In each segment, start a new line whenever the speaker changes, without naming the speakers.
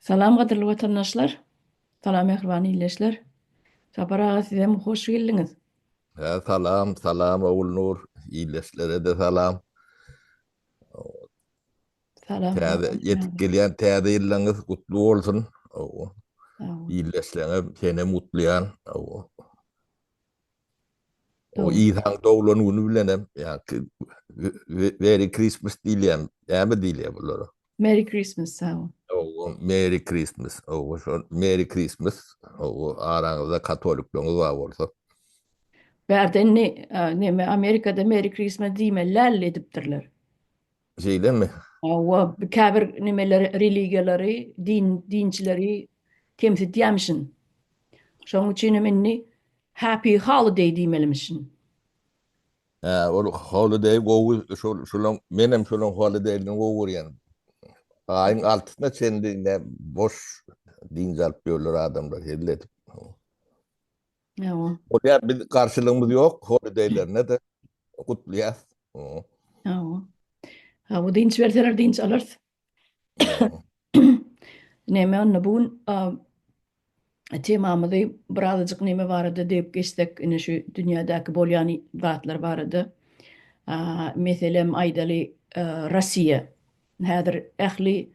Salam gadyrly watandaşlar. Salam mähriban ildeşler. Sapar aga sizem hoş geldiňiz. Salam
salam Ogulnur ildeşlerede salam.
Salam. Täze ýetip
gelýän täze ýylyňyz gutly bolsun.
Ildeşlerine senem
gutlaýan. O Isaň doglan
güni
bilenem ýa-ki Merry Christmas diýilýän, näme diýilýär bulara? Merry Christmas,
sag bol. Hawa, Merry
Christmas. Hawa, şol Merry Christmas. Hawa, araňyzda katolikleriňiz bar bolsa.
Bärde indi näme, Amerikada Merry Christmas diýmeli däl edipdirler. Şeýlemi?
Hawa,
käbir nemeler religiýalary, din, dinçileri kemsitýämişin. Şonuň üçin hem indi Happy Holiday diýmelimişin.
Hä, ol Holiday gowy, şol, şolaň, men hem şolaň Holiday-ni gowy görýän. Aýyň altysyna çenli ne boş dynç alyp ýörler adamlar, helle edip.
Ýa. Bolýar, biz
garşylygymyz ýok, holideýlerine-de gutlaýas.
Ýa. Hawa, dynç berseler dynç alarys. Näme onda bu gün temamyzy birazajyk näme barada degip geçsek, ine şu dünýädäki bolýan zatlar barada. Meselem aýdaly, Russiýa häzir ähli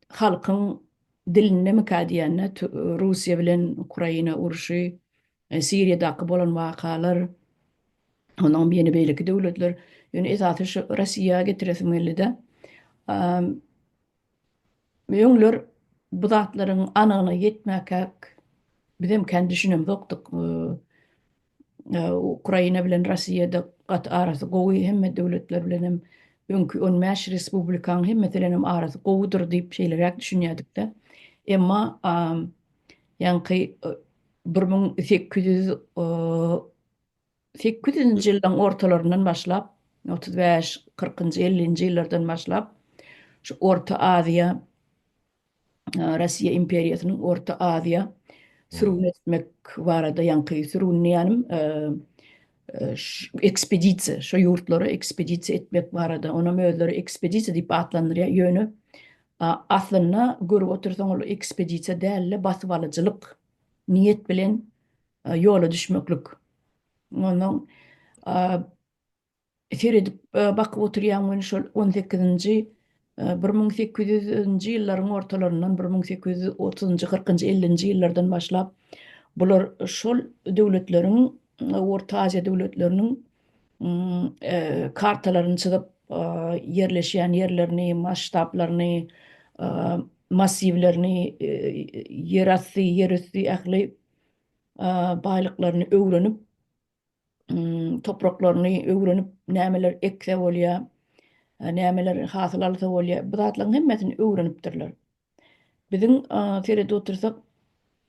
halkyň dilindemikä diýende Russiýa bilen Ukraina urşy, Siriýadaky bolan wakalar, onuňam ýene beýleki döwletler, ýöne esasy şu Russiýa getiresim geldi-de. Öňler bu zatlaryň anygyna ýetmäkäk bizem kän düşünemzokdyk. Ukraina bilen Rossiýada gaty arasy gowy, hemme döwletler bilen hem öňki on bäş respublikanyň hemmesi bilen hem arasy gowudyr diýip şeýleräk düşünýädik-de. Emma ýaňky bir müň sekiz ýüz sekiz ýüzünji ýyllaryň ortalaryndan başlap, otuz bäş, kyrkynjy, ellinji ýyllardan başlap şu Orta Aziýa Russiýa imperiýasynyň Orta Aziýa sürgün etmek barada ýaňky sürgün diýýänim ekspedisiýa şo ýurtlara ekspedisiýa etmek barada onam özleri ekspedisiýa diýip atlandyrýar ýöne aslynda görüp otursaň ol ekspedisiýa dälde basybalyjylyk niýet bilen ýola düşmeklik ondan Seredip, bakyp oturýaň men şol on sekizinji, bir müň sekiz ýüz nji ýyllaryň ortalaryndan, bir müň sekiz ýüz otuz njy, kyrk njy, elli nji ýyllardan başlap, bular şol döwletleriň, Orta Aziýa döwletleriniň kartalaryny çyzyp, ýerleşýän ýerlerini, masştablaryny, massiwlerini, ýerasty, ýerüsti ähli baýlyklaryny öwrenip, topraklaryny öwrenip, nämeler ekse bolýar, nämeler hasyl alsa bolýar, bu zatlaryň hemmesini öwrenipdirler. Biziň seredip otursak,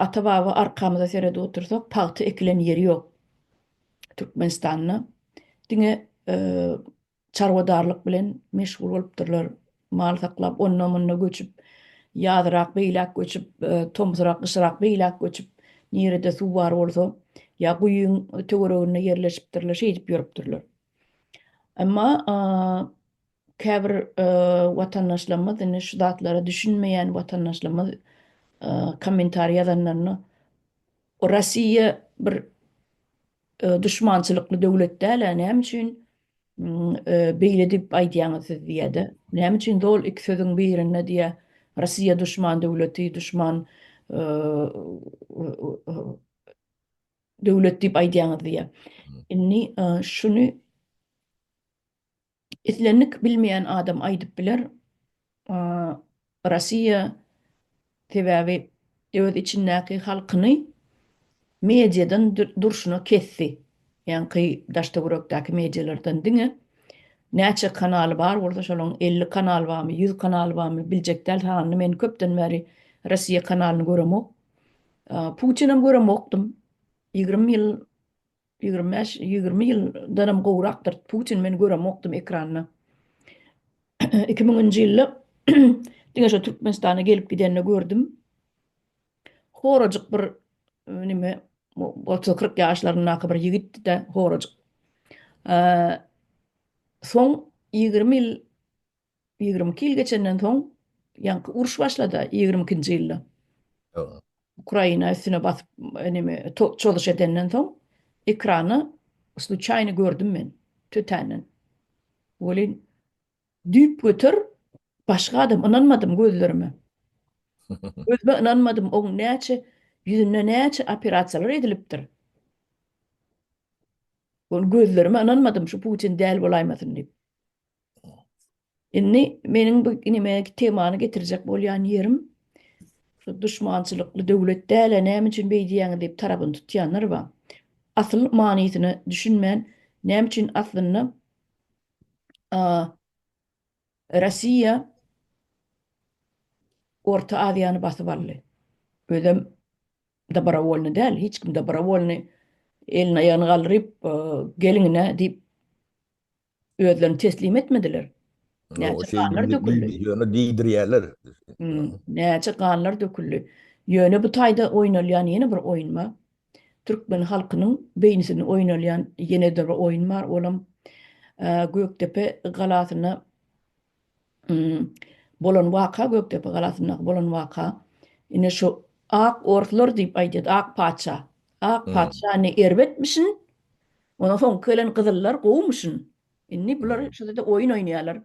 ata-baba arkamyza seredip otursak, pagta ekilen ýeri ýok Türkmenistanda. Diňe Çarwadarlyk bilen meşgul bolupdyrlar. Mal saklap, onda-munda göçüp, ýazyrak beýläk göçüp, tomsurak, gyşyrak beýläk göçüp, nirede suw bar bolsa, ýa guýyň töwereginde ýerleşipdirler, şeýdip ýörüpdirler. Emma käbir watandaşlarymyz, indi şu zatlara düşünmeýän watandaşlarymyz kommentariý ýazanlarynda, Rossiýa bir Duşmançylykly döwlet däl-ä näme üçin beýle diýip aýdýaňyz siz diýýä-de. Näme üçin zol iki sözüň birinde diýýä Russiýa duşman döwleti, duşman döwlet diýip aýdýaňyz diýýä. Indi şuny Islendik bilmeýän adam aýdyp biler, Rossiýa sebäbi öz içindäki halkyny mediadan durşuna kesdi. Ýaňky daştöwerekdäki medialardan diňe näçe kanaly bar bolsa şolaň elli kanaly barmy, ýüz kanaly barmy biljek däl sanyny men köpden bäri Rossiýa kanalyny göremok. Putinem göremokdym. Ýigrimi ýyl Ýigrimi bäş, ýigrimi ýyldanam gowrakdyr. Putin men göremokdym ekranda. Iki müňünji ýylda diňe şo Türkmenistana gelip gidende gördüm. Horajyk bir nime otuz kyrk ýaşlaryndaky bir ýigitdi-de horajyk. Soň ýigrimi ýyl Ýigrimi iki ýyl geçenden soň, ýaňky uruş başlada, ýigrimi ikinji ýylda.
Ukraina
üstüne basyp, neme, çozuş edenden soň, ekrany sluçaýny gördüm men, tötänden. Welin, düýpgöter başga adam, ynanmadym gözlerime. Özüme ynanmadym, oň näçe, ýüzünde näçe operasiýalar edilipdir. Ony gözlerime ynanmadym, şu Putin däl bolaýmasyn diýip. Indi meniň bu inime temany getirjek bolýan ýerim, şu duşmançylykly döwlet däl-ä, näme üçin beý diýýäňiz diýip tarabyny tutýanlar bar. Asyl manysyna düşünmän, näme üçin aslynda Russiýa Orta Aziýany basyp aldy? Özem dobrowolny däl, hiç kim dobrowolny elini-aýagyny galdyryp, geliň-ine diýip Özlerini teslim etmediler. Näçe
ganlar döküldi.
Ýöne diýdirýärler. Näçe ganlar döküldi. Ýöne bu taýda oýnalýan ýene bir oýun bar. Türkmen halkynyň beýnisini oýnalýan ýene-de bir oýun bar. Olam Gökdepe galasyna Bolan waka Gökdepe galasyndaky bolan waka ine şu ak orslar diýip aýdýar ak patyşa ak patyşa ne erbetmişin ondan soňky gelen gyzyllar gowumyşyn indi bular şuda oýun oýnaýarlar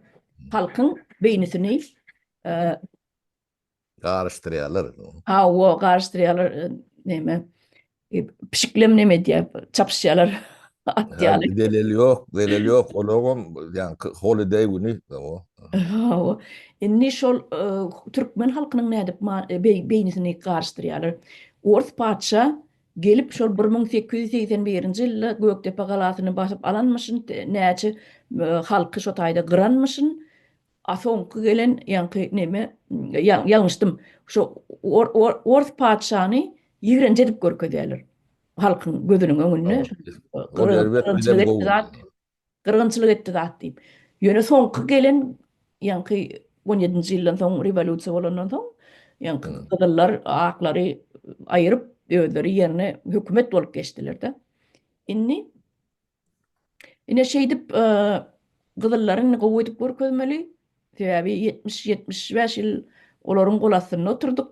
halkyň beýnisini
garyşdyrýarlar indi ony. Hawa,
garyşdyrýarlar, näme, pişiklem näme edýär, çapyşýarlar at ýaly. Zeleli ýok, zeleli
ýok, olarem ýaňky holideý güni o. Hawa,
indi şol türkmen halkynyň nädip beýnisini garyşdyrýarlar. Ors patyşa gelip şol bir müň sekiz ýüz segsen birinji ýylda Gökdepe galasyny basyp alanmyşyn, näçe halky şo taýda gyranmyşyn, A soňky gelen ýaňky neme ýalňyşdym. Şo ors patyşany ýigrenji edip görkezýärler. Halkyň gözüniň öňünde. Gyrgynçylyk etdi zat diýip. Ýöne soňky gelen ýaňky on ýedinji ýyldan soň rewolýusiýa bolandan soň ýaňky gyzyllar aklary aýryp özleri ýerine hökümet bolup geçdiler-de. Indi Ine şeýdip gyzyllary indi gowy edip görkezmeli. Sebäbi 70-75 ýyl olaryň gol astynda oturdyk.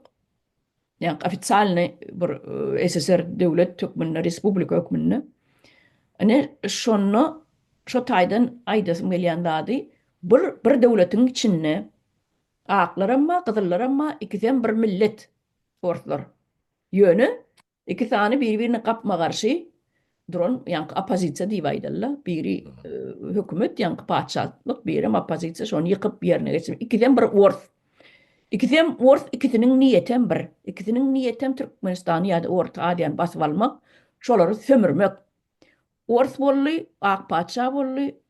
Ýa ofitsialny bir SSR döwlet hökmünde, respublika hökmünde. Ine şonda şo taýdan aýdasym gelýän zady bir bir döwletiň içinde aklar hem bar, gyzyllar hem bar, ikisi hem bir millet orslar. Ýöne Iki sany biri-birine gapma-garşy duran, ýaňky oppozisiýa diýip aýdaly-da, biri hökümet, ýaňky patyşalyk, birem oppozisiýa, şony ýykyp ýerine geçirmek. Ikisem bir ors. Ikisem ors, ikisiniň niýetem bir. Ikisiniň niýetem Türkmenistany ýa-da Orta Aziýany basyp almak, şolary sömürmek. Ors boldy, ak patyşa boldy,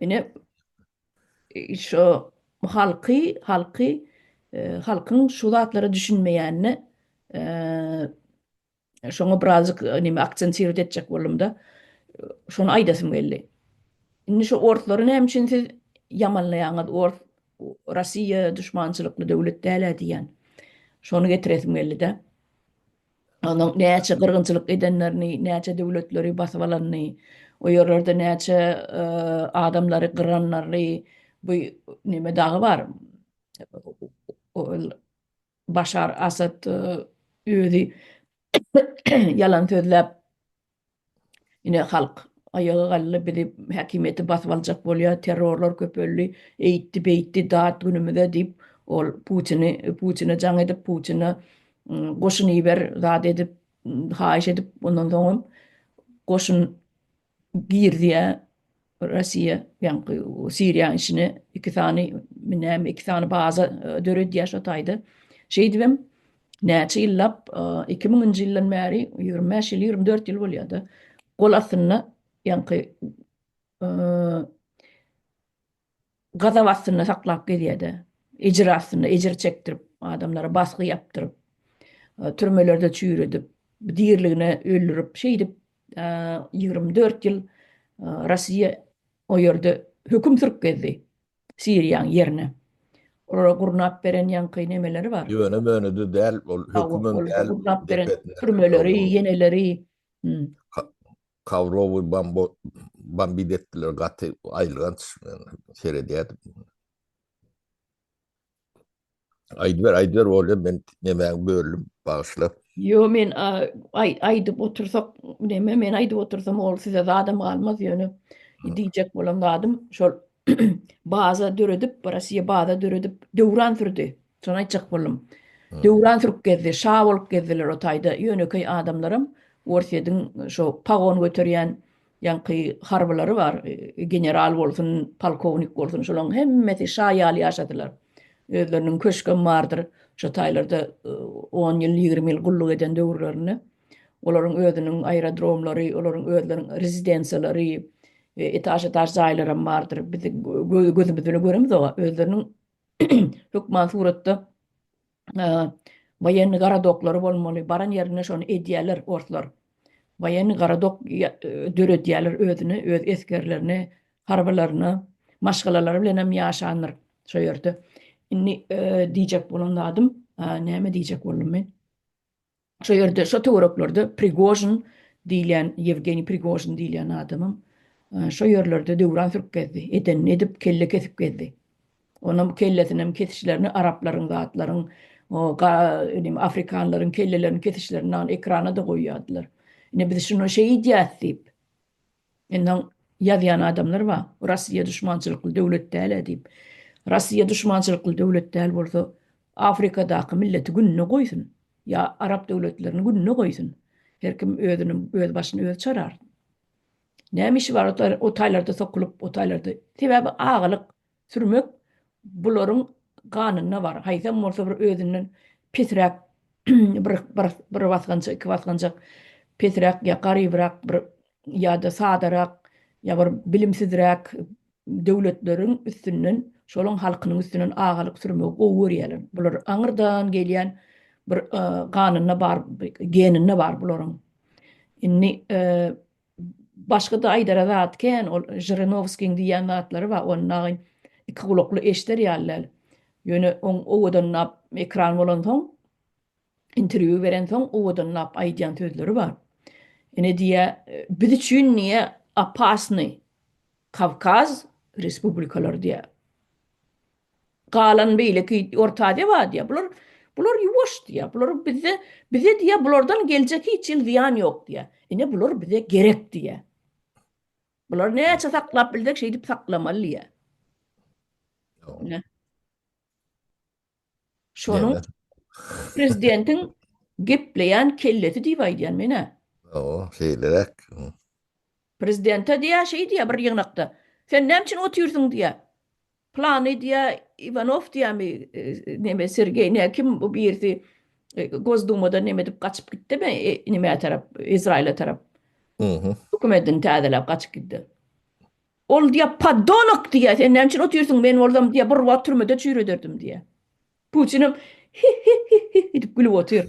Ine, şo halky, halky, halkyň şu zatlara düşünmeýänini şoňa birazjyk näme aksentirowat etjek boldum-da, şony aýdasym geldi. Indi şu orslary näme üçin siz ýamanlaýaňyz, ors Russiýa duşmançylykly döwlet däl-ä diýýän. Şony getiresim geldi-de. onuň näçe gyrgynçylyk edenlerini, näçe döwletleri basyp alanyny, o ýerlerde näçe adamlary gyranlaryny, bu neme dagy bar, ol Başar Asad özi ýalan sözläp, Ine halk aýaga galdy bizi häkimiýeti basyp aljak bolýar terrorlar köpeldi eýtdi beýtdi dat günümize diýip ol putini putine jaň edip putine goşun iber zat edip haýyş edip ondan soňam goşun girdi ýa Russiýa ýaňky Siriýa işine iki sany näme iki sany baza döredýär şo taýda. Şeýdibem näçe ýyllap 2000-nji ýyldan bäri 25 ýyl 24 ýyl bolýar-da. Gol astynda ýaňky gazap astynda saklap gezýär-de, ejir astynda, ejir çekdirip, adamlara basgy ýapdyryp, türmelerde çüýredip, diriligine öldürip, şeýdip, ýigrimi dört ýyl Russiýa o ýerde höküm sürüp gezdi, Siriýanyň ýerine. Olara gurnap beren ýaňky nemeleri bar. Ýöne-möne-de däl,
ol hökümem däl. Gurnap beren türmeleri, ýeneleri. Kawrowy bambo bambit etdiler gaty aýylganç seredýärdim. Aýdyber aýdyber bolýa men nemäňi böldüm bagyşla. Ýo men
aýdyp otursak neme men aýdyp otursam ol size zadam galmaz ýöne diýjek bolan zadym şol baza döredip, Rossiýa baza döredip, döwran sürdi. Şony aýtjak boldum. Döwran sürüp gezdi, şa bolup gezdiler o taýda. Ýönekeý adamlaram Orsýediň şo pagon göterýän ýaňky harbylary bar, general bolsun, polkownik bolsun, şolaryň hemmesi şa ýaly ýaşadylar. Özleriniň köşgem bardyr, şo taýlarda on ýyl, ýigrimi ýyl gulluk eden döwürlerinde. Olaryň özüniň aerodromlary, olaryň özleriniň rezidensiýalary, etaž-etaž jaýlaram bardyr. Biz gözümiz bilen göremiz oňa. Özleriniň hökman suratda woýenni gorodoklary bolmaly. Baran ýerinde şony edýärler orslar. Woýenni gorodok döredýärler özüne, öz esgerlerine, harbylaryna. Maşgalalary bilenem ýaşandyr şo ýerde. Indi diýjek bolan zadym, näme diýjek boldum men? Şo ýerde, şo töwereklerde Prigožin diýilýän, Ýewgeniý Prigožin diýilýän adamam şo ýerlerde döwran sürüp gezdi. Edenini edip, kelle kesip gezdi. Onuň kellesinem kesişlerini araplaryň, zatlaryň, indi afrikanlaryň kellelerini kesişlerini ekrana-da goýýardylar. Ine, biz şuny şeýdýäs diýip. Mundan ýazýan adamlar bar, Rossiýa duşmançylykly döwlet däl-ä diýip. Rossiýa duşmançylykly döwlet däl bolsa, Afrikadaky milleti gününe goýsun, ýa arap döwletlerini gününe goýsun. Her kim özüni, öz başyny özi çarar. Näme işi bar o taýlarda sokulyp, o taýlarda. Sebäbi agalyk, sürmek bularyň ganynda bar. Haýsam bolsa bir özünden pesräk bir bir bir basgança iki basganjak pesräk ýa garybrak bir ýa-da sadarak ýa bir bilimsizräk döwletleriň üstünden şolaň halkynyň üstünden agalyk sürmegi gowy görýärler. Bular aňyrdan gelýän bir ganynda bar geninde bar bularyň. Indi Başga-da aýdara zat kän, ol Žyrinowskiň diýýän zatlary bar, ony dagy iki gulakly eşder ýaly däl. Ýöne oň owadanlap ekran bolansoň, interwýu berensoň owadanlap aýdýan sözleri bar. Ine diýýär, Biz üçin diýýär, opasnyý Kawkaz respublikalary diýýär. Galan beýleki Orta Aziýa bar diýýär. Bular bular ýuwaş diýýär. Bular bizde bize diýýär bulardan geljek hiç ýyl zyýan ýok diýýär. Ine bular bize gerek diýýär. Bulary näçe saklap bilsek şeýdip saklamaly diýýär. Şonuň prezidentiň gepleýän kellesi diýip aýdýan men-ä. Hawa, şeýleräk. Prezidente diýýär, şeý diýýär bir ýygnakda, Sen näme üçin otyrsyň diýýär. Plany diýýär, Iwanow diýýärmi, neme, Sergeý, ne kim bu birisi Gosdumadan neme edip gaçyp gitdi mi, nämä tarap, Izraýyla tarap. Dokumentini täzeläp gaçyp gitdi. Ol diýýär, Poddonok diýýär, sen näme üçin otyrsyň, men bolsam diýýär, bir wagt türmede çüýrederdim diýýär. Putinim, Hi-hi-hi-hi-hi edip gülüp otyr.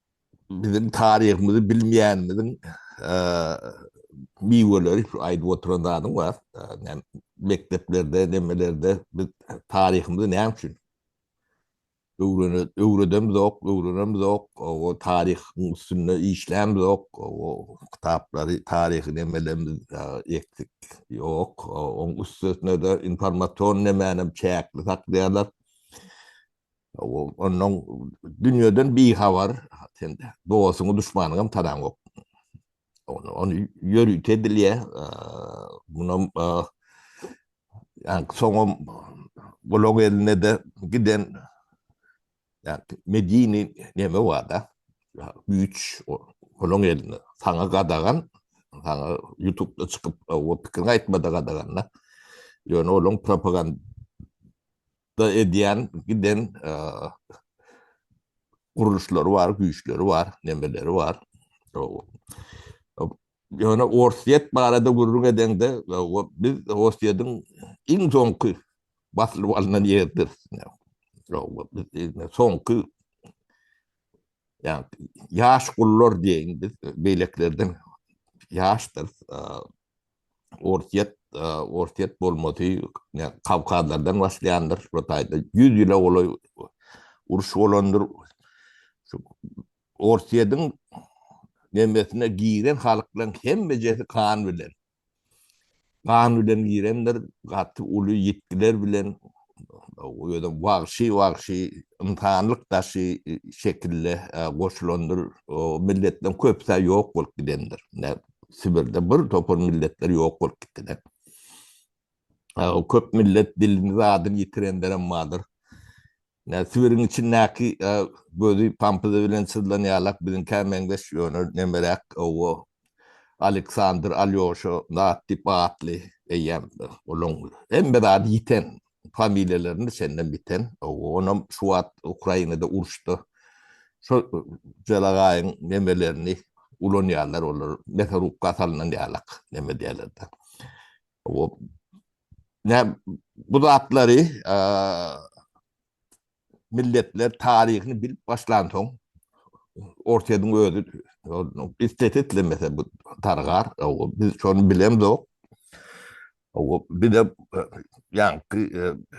Biziň taryhymyzy bilmeýänimiziň miweleri şu aýdyp oturan zadyň bar. Näme mekdeplerde, nemelerde biz taryhymyzy näme üçin öwredemizok, öwrenemizok, o taryhyň üstünde işlämizok, o kitaplary, taryhy nemelerimiz eksik, ýok. Oň üstesine-de informasion nemänem çäkli saklaýarlar. Onnoň dünýeden bihabar, sen dostuňy, duşmanyňam tanaňok. Ony ýörite bilýä, munam soňam gulaň eline-de giden medini neme bar-da, güýç, gulaň eline, saňa gadagan, saňa ýutupda çykyp pikiriňi aýtmada gadagan-da. Ýöne olaň propagand. da edýän giden gurluşlary bar, güýçleri bar, nemeleri bar. Ýöne Orsýet barada gürrüň edeňde, biz Orsýetiň iň soňky basylyp alnan ýeridir. Soňky ýaş gullar diýeýin biz, beýlekilerden ýaşdyr. Orsýet Orsýet bolmasy Kawkazlardan başlaýandyr. Bu taýda 100 ýyla golaý uruş bolandyr. Orsýetiň nemesine giren halklaryň hemmejesi gan bilen. Gan bilen girendir, gaty uly ýitgiler bilen özem wagşy-wagşy ynsanlyk daşy şekilde goşulandyr. Milletden köpüsi ýok bolup gidendir. Sibirde bir topar milletler ýok bolup gitdiler. Ýa-da köp millet dilini zadyny ýitirenlerem bardyr. Ýa Sibiriň içindäki gözi pampuzy bilen çyzlanýarlak biziňkä meňzeş, ýöne nemeräk owo Aleksandr, Alýoşa, Nat diýip atly eýýäm olaň hemme zady ýiten. familiýalaryny senden biten, onam şu wagt Ukrainada uruşda şo jelagaýyň nemelerini ulanýarlar olar, mesorubka salnan ýalak neme diýerlerde. Bu zatlary milletler taryhyny bilip başlansoň, Orsýetiň özi islese-islemese bu dargar, biz şony bilemzok. Bize ýaňky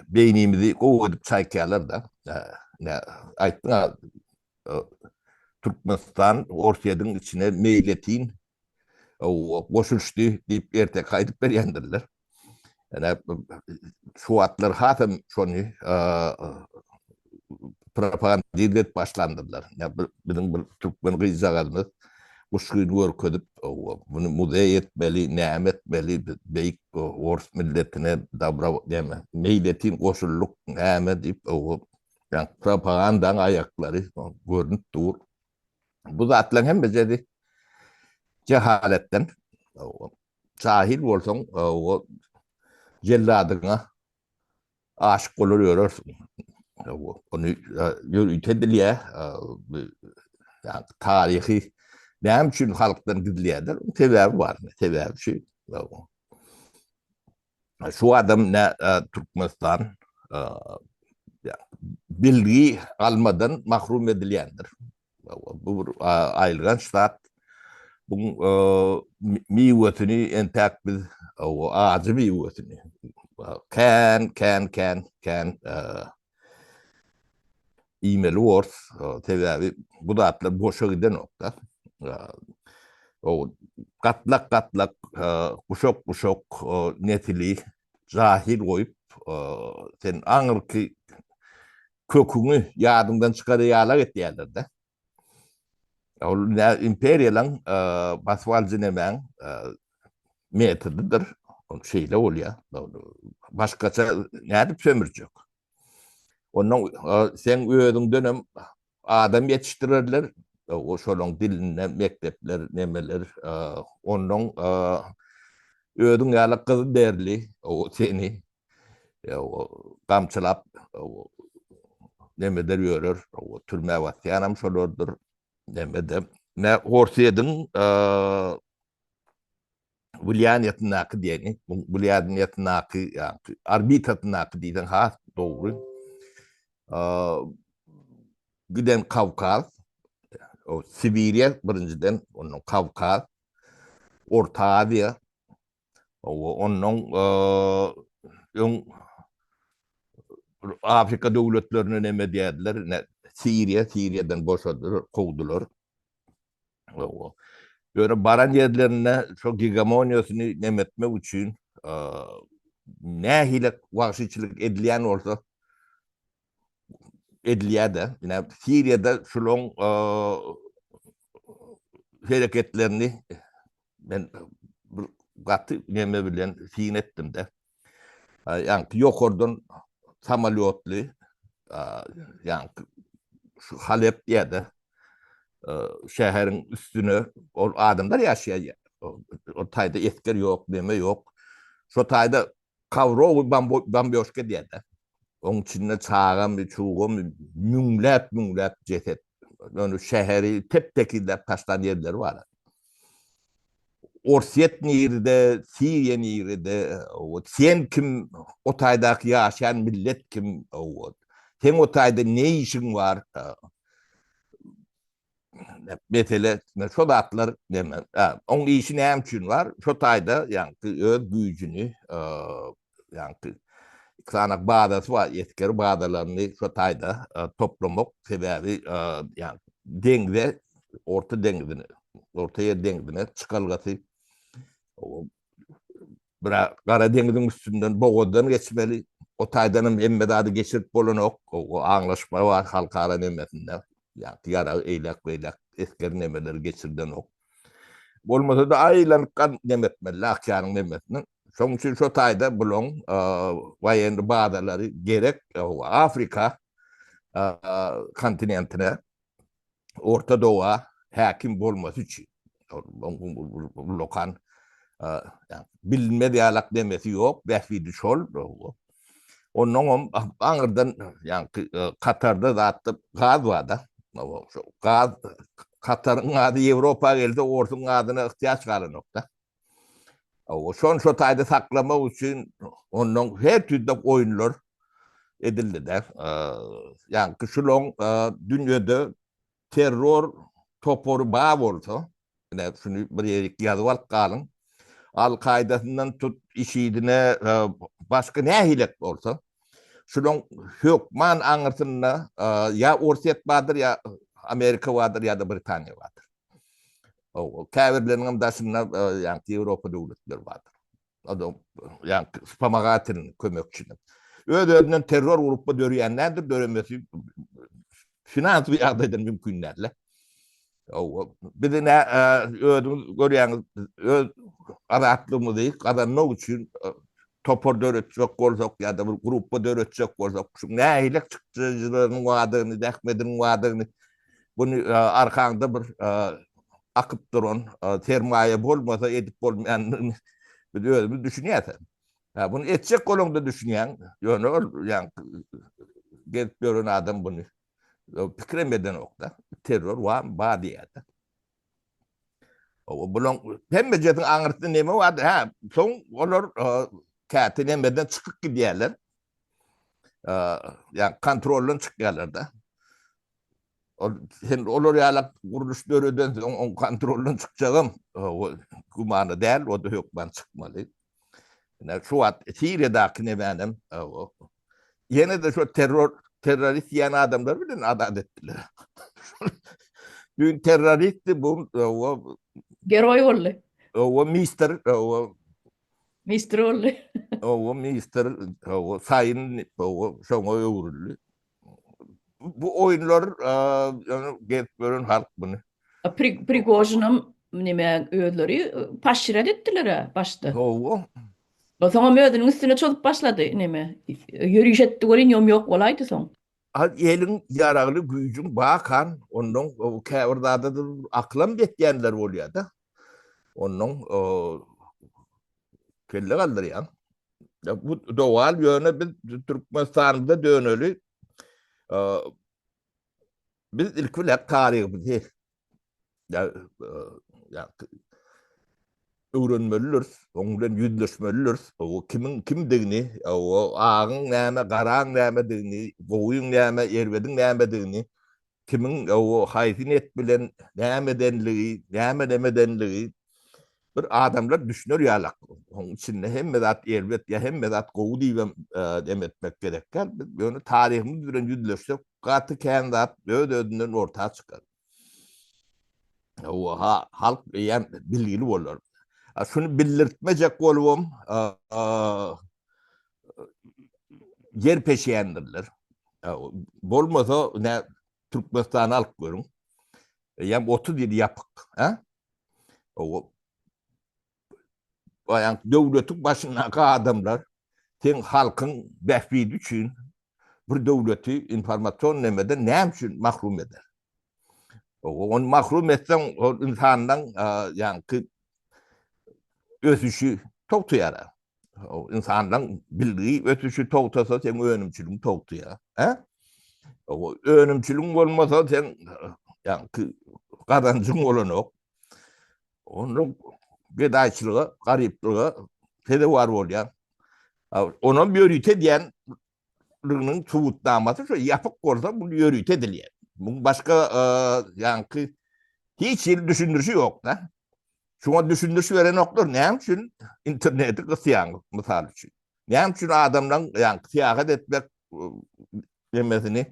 beýnimizi gowy edip çaýkaýarlar-da. Ine, aýtdyň-a, Türkmenistan Orsýetiň içine meýletin goşulyşdy diýip erteki aýdyp berýändirler. Ýöne şu wagtlar hasam şony propagandize edip başlandyrlar. Biziň bir türkmen gyzjagazymyz guşgyn görkezip, muny muzeý etmeli, näme etmeli, biz beýik ors milletine dabro näme, meýletin goşuldyk, näme diýip, ýa propagandaň aýaklary görnüp dur. Bu zatlaryň hemmesi jehaletden. Jahil bolsaň, o jelladyňa aşyk bolar ýörersiň. Ony ýörite dilýär. Taryhy näme üçin halkdan gizleýärler? Sebäbi bar. Sebäbi şu. Şu adam ne Türkmenistan bilgi almadan mahrum edilýändir. Bu bir aýylganç zat. Bu miwesini entäk biz ajy miwesini kän kän kän kän iýmeli ors, sebäbi bu zatlar boşa gidenokda. O gatlak-gatlak, guşak-guşak nesili jahil goýup, sen aňyrky köküňi ýadyňdan çykaryp ýalak etýärler-de. Ol imperiýalaň basyp alyjy nemäň metodydyr. Ol şeýle bolýar. Başgaça nädip sömürjek? Onda seň özüňden hem adam ýetişdirerler. Şolaň dilinde mekdepler, nemeler. Onnoň özüň ýaly gyz derli seni gamçylap nemedir ýörer, türmä batýanam şolardyr, neme-de. Nä Orsýetiň wlýaniýetindäki diýeni, wlýaniýetindäki, ýagny orbitasyndaky diýseň has dogry. Giden Kawkaz, Sibiriýa birinjiden, ondan Kawkaz, Orta Aziýa, Ondan öň Afrika döwletlerine näme diýerler, Siriýa, Siriýadan boşadylar, kowdular. Ýöne baran ýerlerinde şo gegamoniýasyny näme etmek üçin nähili wagşyçylyk edilýän bolsa, edilýär-de. Ine, Siriýada şularyň hereketlerini men bir gaty neme bilen syn etdim-de. Ýaňky ýokardan samolýotly, ýaňky şu Halep diýýär-de, şäheriň üstüne, ol adamlar ýaşaýan ýer, ol taýda esger ýok, neme ýok. Şo taýda Kowrowy bambioşka diýerler. Oň içinde çagamy, çugamy, müňläp-müňläp jeset. Ýöne şäheri tep-tekizläp taşlan ýerleri bar. Orsýet nirede, Siriýa nirede, wot, sen kim, o taýdaky ýaşaýan millet kim, wot, seň o taýda ne işiň bar? mesele şo zatlar deme. Oň işi näme üçin bar? Şo taýda ýaňky öz güýjüni ýaňky iki sany bazasy bar, esger bazalaryny şo taýda toplamak, sebäbi ýaňky deňze, Orta deňzine, Ortaýer deňzine çykalgasy Bira Gara deňiziň üstünden bogazdan geçmeli. O taýdanam hemme zady geçirip bolanok. O aňlaşma bar halkara nemesinde. Ýagty ýarag eýläk-beýläk esger nemeleri geçirilenok. Bolmasa-da aýlanyp gan neme etmeli Akýanyň nemesinden. Şonuň üçin şo taýda bulaň waýenny bazalary gerek Afrika kontinentine. Orta Doga häkim bolmasy üçin. Lokan bilinmez ýalak demesi ýok, bähbidi şol. Onnoňam aňyrdan ýaňky Katarda zatda gaz bar-da. Gaz Kataryň gazy Ýewropa gelse, orsuň gazyna yhtiýaç galanok-da. Şony şo taýda saklamak üçin ondan her türlü oýunlar edildi-de. Ýagny şulan dünýede terror topary bar bolsa, ine şuny bir ýerik ýazyp alyp galyň. Al-Kaýdasyndan tut IŞİD-ine başga nähilek bolsa, şulan hökman aňyrsynda ýa Orsýet bardyr, ýa Amerika bardyr, ýa-da Britaniýa bardyr. Käbirleriniňem daşynda ýaňky Ýewropa döwletleri bardyr. Adam ýaňky spamagatynyň kömekçini. Öz-özünden terror grupy döreýän nädir, döremesi finansiýa ýagdaýdan mümkin däl-le. Bizi nä özüňiz görýäňiz, öz azatlygymyzy gazanmak üçin topar döretjek bolsak ýa-da bir grupy döretjek bolsak, şuň nähili çykdajylarynyň bardygyny, zähmediniň bardygyny Bu arkaňda bir akyp duran sermaýa bolmasa edip bolmaýanyny biz özümiz düşünýäs-ä. Hä, buny etjek bolaňda düşünýäň. Ýöne ol gezip ýören adam buny pikirem edenok-da. Terror bar diýýär-de. Bulaň hemmejesiniň aňyrsynda neme bardy? Hä, soň olar käte nemeden çykyp gidýärler. Ýa kontroldan çykýarlar-da. Ol hem olar ýalak gurluş döreden soň oň kontroldan çykjagam gümana däl, o-da hökman çykmaly. Ine şu wagt Siriýadaky nebänem ýene-de şo terror terrorist diýen adamlar bilen azat etdiler. Düýn terroristdi bu o Geroý
boldy. O mister
o
Mister boldy. O mister
o saýyn o şoňa öwrüldi. bu oýunlar ýöne gezip gören halk muny. Prigožinam
nime özleri paşşiret etdiler-ä başda. Hawa.
Soňam
özüniň üstüne çozup başlady nime. Ýöriş etdi welin ýom ýok bolaýdy soň. Az eliň
ýaragly güýjüň bakan ondan käbir zada aklam ýetýänler bolýar-da. Ondan kelle galdyrýan. Bu dogan ýöne biz Türkmenistanda döneli biz ilk bilen taryhymyzy öwrenmelidiris, oň bilen ýüzleşmelidiris. O kimiň kimdigini, o agyň näme, garaň nämedigini, gowyň näme, erbediň nämedigini kimiň o haýsy niýet bilen näme edenligi, näme nämedenligi bir adamlar düşüner ýalak. Oň içinde hemme zat erbet ýa hemme zat gowy diýibem dem etmek gerek däl. Biz ýöne taryhymyz bilen ýüzleşsek gaty kän zat öz-özünden orta çykar. Hawa, halk eýýäm bilgili bolar. Şuny bildirtmejek bolubam ýer peşýändirler. Bolmasa, ne Türkmenistany alyp görüň. Ýam 30 ýyl ýapyk, hä? O baýan döwletiň başyndaky adamlar sen halkyň bähbidi üçin bir döwleti informasion nemeden näme üçin mahrum eder? Ony mahrum etseň, ol insandan ýaňky ösüşi togtaýar. Insandan bilgi ösüşi togtasa, sen önümçiligiň togtaýar. Hä? Önümçiligiň bolmasa, sen ýaňky gazanjyň bolanok. Onda gedaýçylyga, garyplyga sezewar bolýar. Onam ýörite edýän liginiň subutnamasy şu ýapyk bolsa bu ýörite edilýär. Bu başga e, ýaňky hiç hili düşündirişi ýok da. Şuňa düşündiriş berenoklar näme üçin interneti gysýaňyz mysal üçin. Näme üçin adamlaryň ýaňky syýahat etmek e, demesini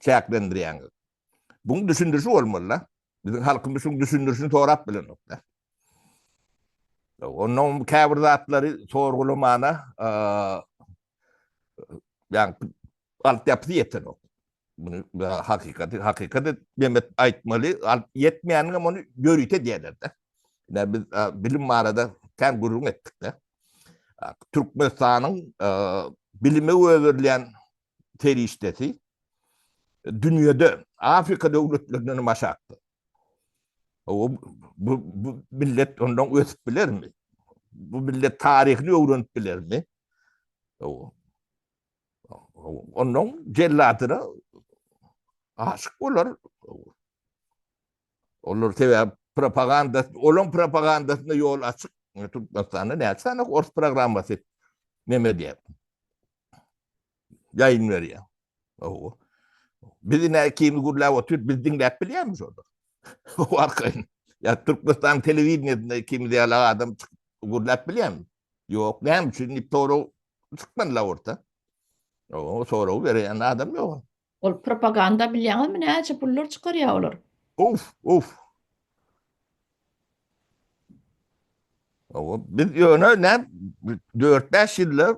çäklendirýäňiz. Buň düşündirişi bolmaly-da. Biziň halkymyz şuň düşündirişini sorap bilenok-da. Ondan käbir zatlary sorgulamana ýa alt ýapysy ýetenok. Muny hakykaty, hakykaty demek aýtmaly, al ýetmeýäniň hem ony ýörite diýerler-de. Ýa biz bilim barada kän gürrüň etdik-de. Türkmenistanyň bilime öwrülýän serişdesi dünýede Afrika döwletlerinden başakdyr. O bu, bu millet ondan ösüp bilermi? Bu millet taryhyny öwrenip bilermi? O, ondan celladyna aşyk bolar. Olar sebäbi propaganda, olaň propagandasyna ýol açyk. Türkmenistanda näçe sany ors programmasy neme edýär? Ýaýyn berýär. Owo. Biz ine ikimiz gürläp otyr, biz diňläp bilýärmi şonda? O arkaýyn. Ýa Türkmenistan telewideniýesinde ikimiz ýaly adam çykyp gürläp bilýärmi? Ýok, näme üçin diýip sorag çykman la orta. Owo, sorag berýän adam ýok. Ol propaganda
bilýäňizmi näçe pullar çykarýa olar. Of of.
Owa biz ýöne ne 4-5 ýylda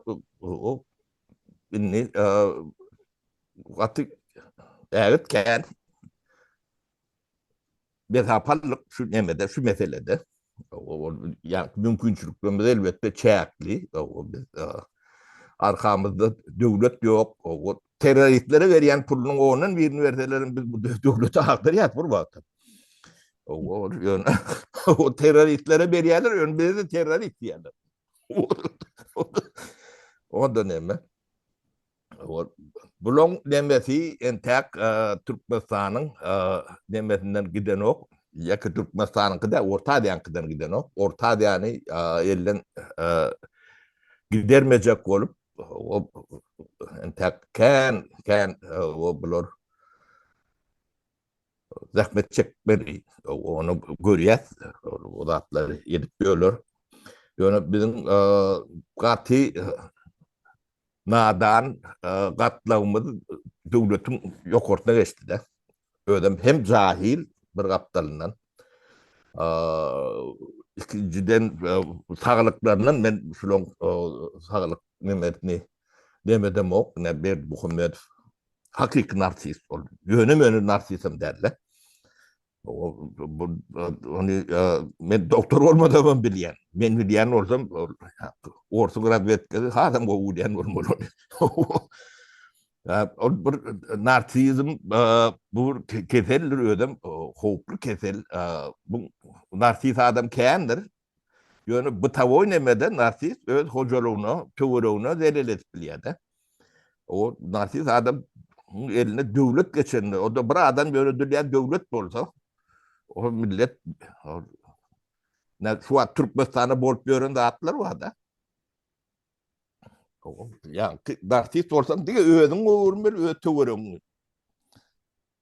o indi gaty ägit kän Bihapalyk şu nemede, şu meselede, ýagny mümkinçiliklerimiz elbetde çäkli, arkamyzda döwlet ýok, terroristlere berýän pulunyň ondan birini berselerem biz bu döwleti agdarýas bir wagtam. Ýöne terroristlere berýärler, ýöne bize terrorist diýýärler. Onda näme? Bulaň nemesi entäk Türkmenistanyň nemesinden gidenok. Ýeke Türkmenistanyňky däl, Orta Aziýanyňkydan gidenok. Orta Aziýany elden gidermejek bolup, entäk kän, kän bular zähmet çekmeli. Ony görýäs, bu zatlary edip ýörler. Ýöne biziň gaty nadan gatlagymyz döwletiň ýokarsyna geçdi-de. Özem hem jahil bir gapdalyndan. Ikinjiden saglyklaryndan men şularyň saglyk nemesini demedemok, Berdimuhamedow Hakyky narsist ol. Ýöne meni narsistim derle. Ony men doktor bolmadam hem bilýän. Men bilýän bolsam, orta razvedkasy hazam gowy bilýän bolmaly ony. Ol bir narsizm bu keseldir özem, howply kesel. Bu narsis adam kändir. Ýöne bytawoý nemede narsist öz hojalygyna, töweregine zelel edip bilýär-de. O narsist adam eline döwlet geçende, o-da bir adam ýöredilýän döwlet bolsa, o millet şu wagt Türkmenistanda bolup ýören zatlar bar-da. Ýa narsist bolsaň diňe özüňi öwürmeli, öz töweregiňi.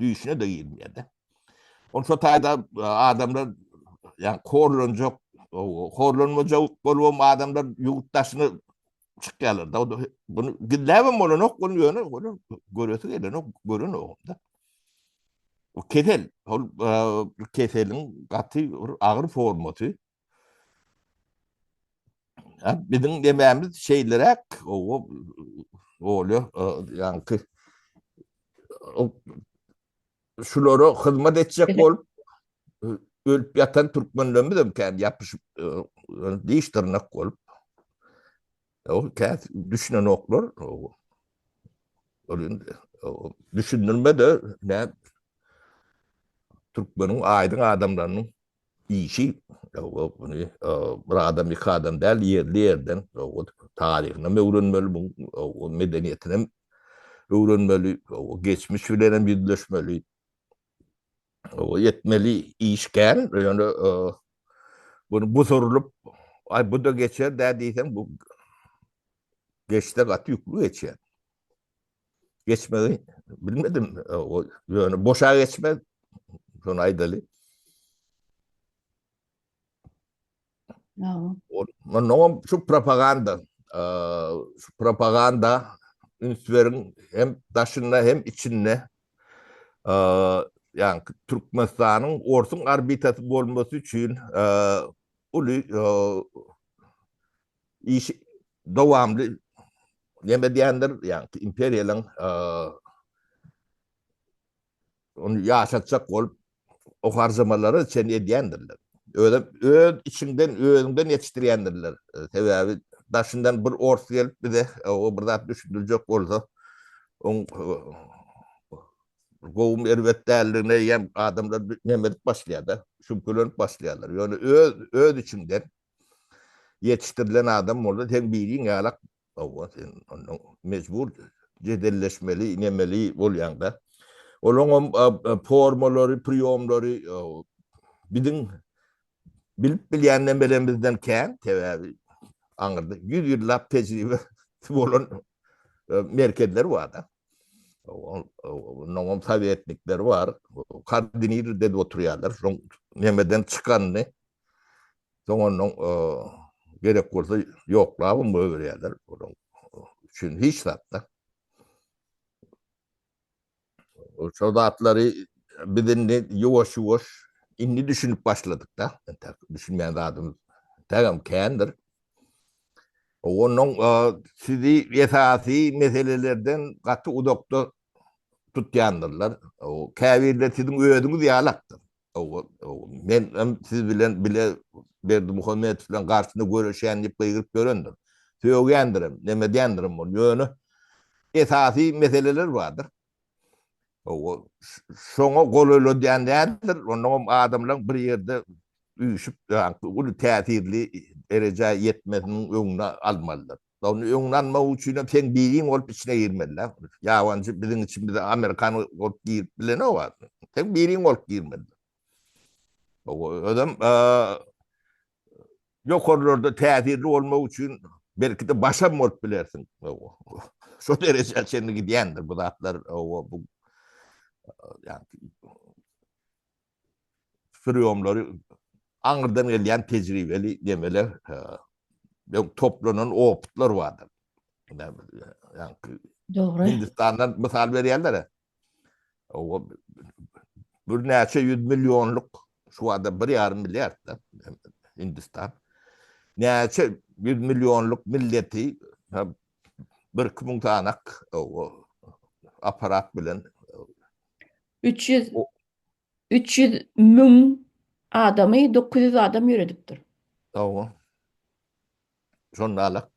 düýşüne-de girmeýär-de. Ol şo taýda e, adamlar ýa horlanjak, horlanmajak bolubam adamlar ýurt daşyna çykýarlar. Da bunu gizläbem bolanok, bunu ýöne ony göresi gelenok, görenogum-da. O kesel, ol e, keseliň gaty agyr formasy, Biziň dememiz şeýleräk, owo, bolýar, ýaňky şulara hyzmat etjek bolup ölüp ýatan türkmenlerimiz hem kän ýapyşyp, diş dyrnak bolup, ol käsi düşünenoklar, owo. Ol indi düşündirme-de, näm, türkmeniň aýdyň adamlarynyň Işi muny bir adam iki adam däl ýerli ýerden taryhynam öwrenmeli bu medeniýetinem öwrenmeli geçmiş bilenem ýüzleşmeli etmeli iş kän ýöne muny busurylyp aý buda geçer dä diýseň bu geçse gaty ýükli geçýär. geçmegi bilmedim. O ýöne boşa geçmez. Şonu aýdaly.
Ýa. Ondan şu
propaganda, şu propaganda ünslerin hem daşynda hem içinde yani Türkmenistan'ın orsun arbitası bolması için uly işi dowamly neme edýändir, ýagny imperiýalaryň ony ýaşatjak bolup o harjamalary çen edýändirler. Özem öz içiňden özüňden ýetişdirýändirler. Sebäbi daşyndan bir ors gelip bize o bir zat düşündirjek bolsa, oň gowum erbet däldigine ýa adamlar neme edip başlaýar-da, şübhelenip başlaýarlar. Ýöne öz öz içiňden Ýetişdirilen adam bolsa seň biriň ýalak hawa sen onda mejbur jedelleşmeli nemeli bolýaňda. Olaňam formalary, priýomlary biziň bilip bilýän nemelemizden kän, sebäbi aňyrda ýüz ýyllap tejribesi bolan merkezler barda. Ondan sovetnikler bar. Kardinir dedi oturýarlar. Soň nemeden çykandy. Soň ondan gerek bolsa ýoklabym goýberýärler. Onuň üçin hiç zatda. Şol zatlary biz indi ýuwaş-ýuwaş indi düşünip başladyk-da. Düşünmeýän zadymyz tägem kändir. Ondan sizi esasy meselelerden gaty uzakda tutýandyrlar. Käbirleri siziň özüňiz ýalakdyr. Men hem siz bilen bile Berdimuhamedow bilen garşyna göreşýän diýip gygyryp ýörendir. Sögýändirem, näme edýändirem ol. Ýöne esasy meseleler bardyr. Şoňa golaýladýan däldir, onnoň hem adamlaryň bir ýerde üýşüp, uly täsirli derejä ýetmesiniň öňüni almalydyr. Ony öňüni almak üçin hem seň biriň bolup içine girmelidir. Ýabanjy biziň içimize amerikan bolup girip bilenok. Seň biriň bolup girmelidir. Özem Ýokarlarda täsirli bolmak üçin belki-de başam bolup bilersiň. Şo derejä çenli gidýändir bu zatlar. Bu priýomlary aňyrdan gelýän tejribeli nemeler, toplanan opytlar bardyr.
Dogry. Hindistandan
mysal berýärler-ä. O bir näçe ýüz millionlyk şu wada bir ýarym milliard da Hindistan. Näçe ýüz millionlyk milleti bir iki müň sanak apparat bilen.
Üç ýüz
Üç ýüz
müň adamy dokuz ýüz adam ýöredipdir. Hawa.
Şonda-la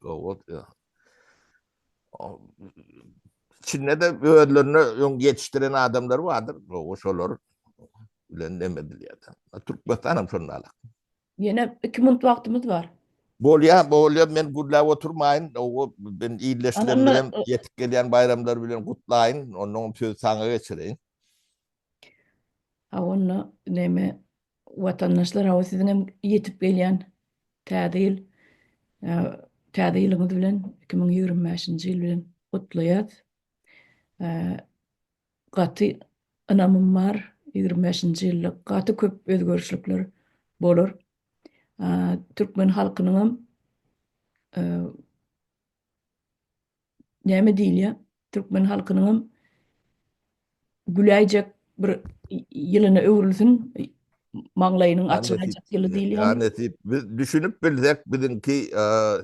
içinde-de özlerine öň ýetişdiren adamlar bardyr. Gowy, şolar bilen neme edilýär-de. Türkmenistan hem şonda-la. Ýene iki
minut wagtymyz bar. Bolýar, bolýar.
Men gürläp oturmaýyn. Gowy, men ildeşlerim bilen ýetip gelýän baýramlar bilen gutlaýyn. Onnoň sözi saňa geçireýin. A
onda neme watandaşlar hawa siziň hem ýetip gelýän Täze ýyl Täze ýylyňyz bilen iki müň ýigrimi bäşinji ýyl bilen gutlaýas. Gaty ynamym bar ýigrimi bäşinji ýylda gaty köp özgerişlikler bolar. Türkmen halkynyňam näme diýilýär, türkmen halkynyňam güläýjek bir ýylyna öwrülsin, maňlaýynyň açylaýjak ýyly diýilýärmi? Ýa
nesip,
biz düşünip
bilsek, biziňki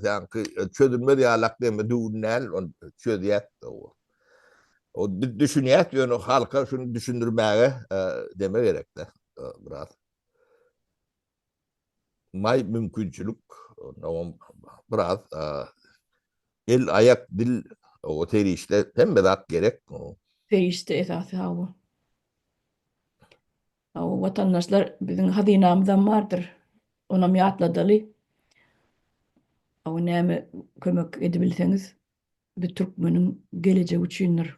seňki çözülmez ýalak gemi düwün däl, ony çözýäs. Ol biz düşünýäs, ýöne halka şuny düşündirmäge deme gerek-de biraz. maý mümkinçilik oňam biraz el aýak dil o serişde hemme zat gerek. Serişde
esasy hawa. Hawa watandaşlar biziň hazynamyzam bardyr. Onam ýatladaly. Hawa näme kömek edibilseňiz bu türkmeniň gelejegi üçindir.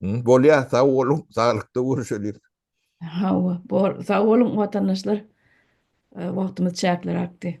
Bolýar, sag boluň, saglykda görüşeliň. Hawa,
bor, sag boluň watandaşlar. Wagtymyz çäkli rakdy.